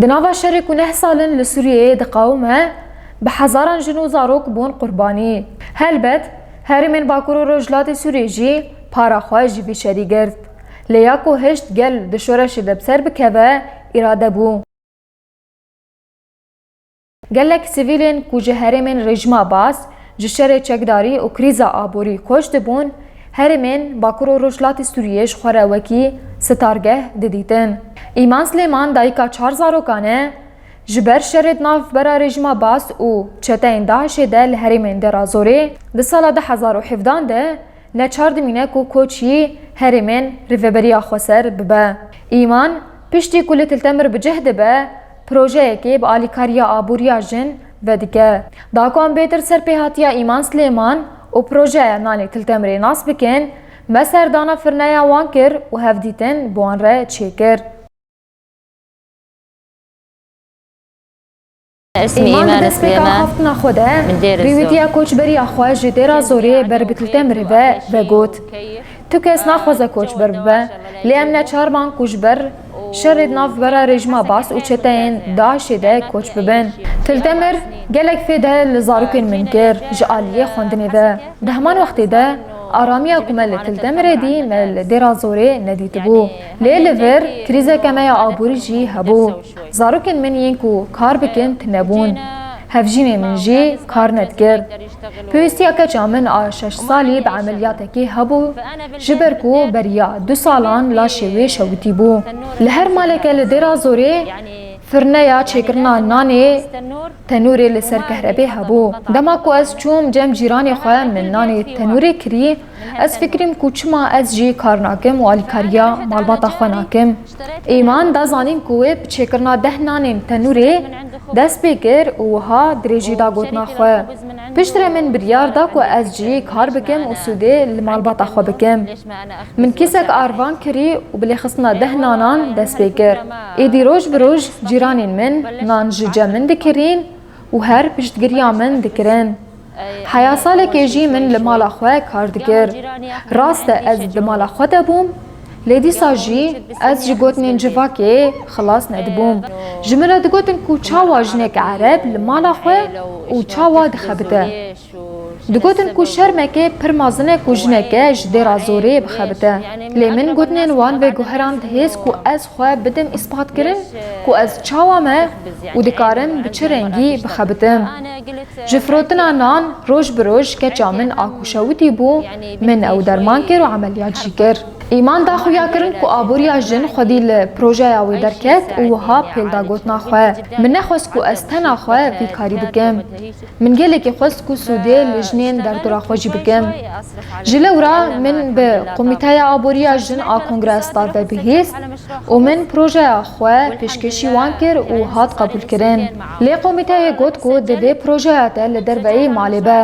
Di nava şerê ku neh sal in li Sûriyeyê diqewime, bi hezaran jin û zarok bûn qurbanî. Helbet, herêmên Bakur û Rojhilatê Sûriyê jî para xwe ji vî şerî girt. Lê ya ku hişt gel di şoreşê de bi ser bikeve, îrade bû. Gelek sivîlên ku ji herêmên rejima baz, ji şerê çekdarî û krîza aborî koç dibûn, herêmên Bakur û Rojhilatê Sûriyê ji xwe re wekî sitargeh didîtin. Îman Silêman dayika çar zarokan e, ji ber şerê di navbera rejima baz û çeteyên DAIŞ'ê de li herêmên Derazorê di sala du hezar û hevdan de Ne çar dimîne ku koç yî herêmên Rêveberiya Xweser bibe. Îman, piştî ku li Kiltemir bi cih dibe, projeyekê bi alîkariya aboriya jin vedike. Da ku em bêtir ser pêhatiya Îman Silêman û projeya nanê Kiltemirê nas bikin, me serdana firneya wan kir û hevdîtin bi wan re çêkir. Îman di destpêka xaftina xwe de pêwîtiya koçberiya xwe ji Dêra Zoriyê Berbitl Temirê ve vegot, Tu kes naxwaze koçber bibe, lê em neçarman ku ji ber şerê di navbera rejîma Baas û çeteyên DAIŞ'ê de koç bibin. Til Temir gelek fêde li zarokên min kir ji aliyê xwendinê ve. Di heman wextê de aramiya ku me li Til Temirê dî me li Dêra Zorê nedîtibû. Lê li vir krîzeke me ya aborî jî hebû. Zarokên min yên ku kar bikin tune bûn. Hevjînê min jî kar nedikir. Pêwîstiya keça min a şeş salî bi emeliyatekê hebû ji ber ku beriya du salan laşê wê şewitî bû. Li her maleke li Dêrazorê firneya çêkirina nanê, tenûrê li ser kehrebê hebû. Dema ku ez çûm cem cîranê xwe min nanê tenûrê kirî. Ez fikirîm ku çima ez jî kar nakim û alîkariya malbata xwe nakim. Îman da zanîn ku wê bi çêkirina deh nanên tenûrê dest pê kir û wiha dirêjî da gotina xwe, Piştre min biryar da ku ez jî kar bikim û sûdê li malbata xwe bikim. Min kîsek arvan kirî û bi lêxistina deh nanan dest pê kir. Êdî roj bi roj cîranên min nan ji cem min dikirîn, û her piştgiriya min dikirin. Heya salekê jî min li mala xwe kar dikir. Rast e ez di mala xwe de bûm, lê dîsa jî ez ji gotinên civakê xilas nedibûm. Ji min re digotin ku çawa jineke ereb li mala xwe û çawa dixebite. Digotin ku şermekê pir mezin e ku jineke ji dêra zorê bixebite. Lê min gotinên wan veguherand hêz ku ez xwe bidim îspatkirin ku ez çawa me û dikarim bi çi rengî bixebitim. Ji firotina nan roj bi roj keça min a ku şewitî bû, min ew derman kir û emeliyat jî kir. Îman da xuya kirin ku aboriya jin xwedî li projeya wê derket û wiha pêl da gotina xwe, Min nexwest ku ez tena xwe vî karî bikim. Min gelekî xwest ku sûdê li jinên derdora xwe jî bikim. Ji lew re min bi Komîteya Aboriya Jin a Kongrestar ve bihîst û min projeya xwe pêşkêşî wan kir û hat qebûlkirin. Lê komîteyê got ku divê projeya te li derveyî malê be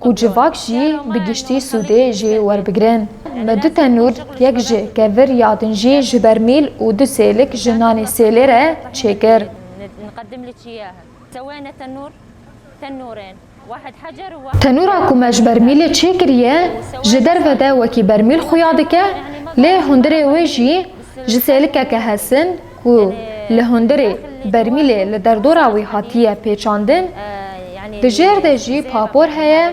ku civak jî bi giştî sûdê jê werbigirin. Me du tenûr, yek ji kevir ya din jî ji bermîl û du sêlik ji nanê sêlê re çêkir. Tewene tenûr, tenûrên, wahid hecer û wahid Tenûra ku me ji bermîlê çêkiriye, ji derve de wekî bermîl xuya dike, lê hundirê wê jî ji sêlikeke hesin ku li hundirê bermîlê li derdora wî hatiye pêçandin, di jêr de jî papor heye,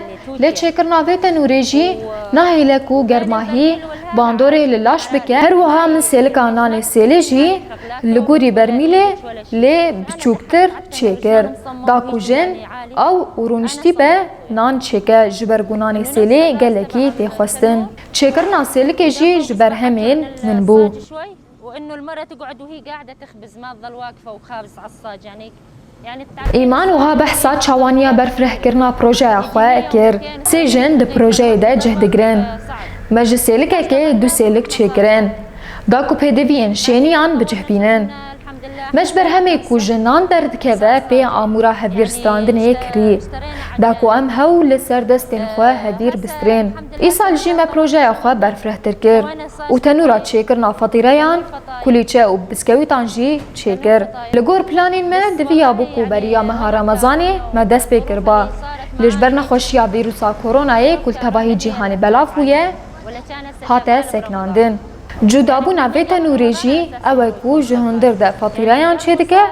lê çêkirina vê tenûrê jî nahêle ku germahî bandorê li laş bike. Her wiha min sêlika nanê sêlê jî li gorî bermîlê Lê biçûktir çêkir. Da ku jin, ew û rûniştî be nan çêke ji ber ku nanê sêlê gelekî tê xwestin. Çêkirina sêlikê jî ji ber hemên min bû. Îman wiha behsa çawaniya berfirehkirina projeya xwe kir, Sê jin di projeyê de cih digirin. Me ji sêlikekê du sêlik çêkirin. Da ku pêdiviyên şêniyan bicihbînin. Me ji ber hemê ku jinan derdikeve pê amûra hevgirstrandinê kirî. Da ku em hewl li ser destên xwe hevîr bistirên. Îsal jî me projeya xwe berfirehtir kir û tenûra çêkirina fatîreyan, kulîçe û biskewîtan jî çêkir. Li gor planên me diviyabû ku beriya meha remezanê me dest pê kiriba. Lê ji ber nexweşiya vîrûsa koronayê ku li tevahî cîhanê belav bûye hate sekinandin. Cudabûna vê tenûrê jî ew e ku ji hundir de fatîrayan çêdike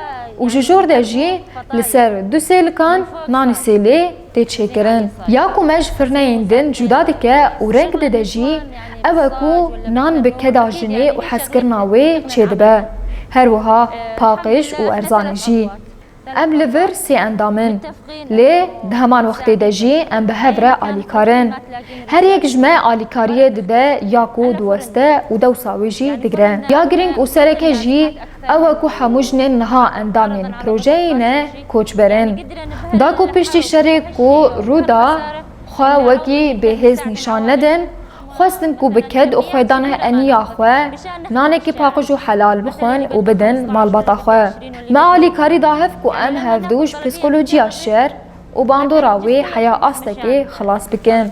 û ji jor de jî li ser du sêlikan nanê sêlê tê çêkirin. Ya ku me ji firneyên din cuda dike û reng dide jî ew e ku nan bi keda jinê û hezkirina wê çêdibe. Her wiha paqij û erzanê jî. Em li vir sê endam in, lê di heman wextê de jî em bi hev re alîkar in. Her yek ji me alîkariyê dide ya ku diweste û dewsa wê jî digire. Ya girîng û sereke jî ew e ku hemû jinên niha endamên projeyê ne koçber in. Da ku piştî şerê ku rû da xwe wekî bêhêz nîşan nedin, Xwestin ku bi ked û xwedane eniya xwe nanekî paqij û helal bixwin û bidin malbata xwe. Me alîkarî da hev ku em hevdu ji psîkolojiya şer û bandora wê heya astekê xilas bikin.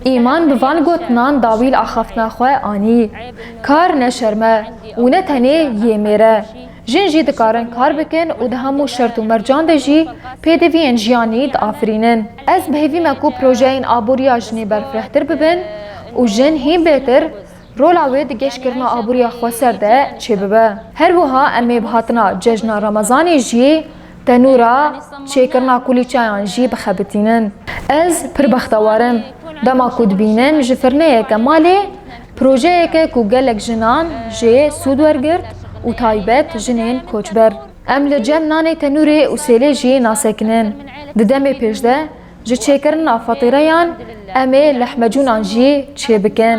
Îman bi van gotinan dawîl axaftina xwe anî, Kar ne şerm e û ne tenê yê mêr e. Jin jî dikarin kar bikin û di hemû şert û mercan de jî pêdiviyên jiyanî diafirînin. Ez bi hêvî me ku projeyên aboriya jinê berfirehtir bibin û jin hîn bêtir rola wê di geşkirina aboriya xweser de çêbibe. Her wiha em ê bi hatina cejna Remezanê jî tenûra çêkirina kulîçeyan jî bixebitînin. Ez pir bextewar im dema ku dibînim ji firneyeke malê Projeyeke ku gelek jinan jê sûd wergirt û taybet jinên koçber. Em li cem nanê tenûrê û sêlê jî nasekinin. Di demê pêş de ji çêkirina fatireyan em ê lehmecûnan jî çêbikin.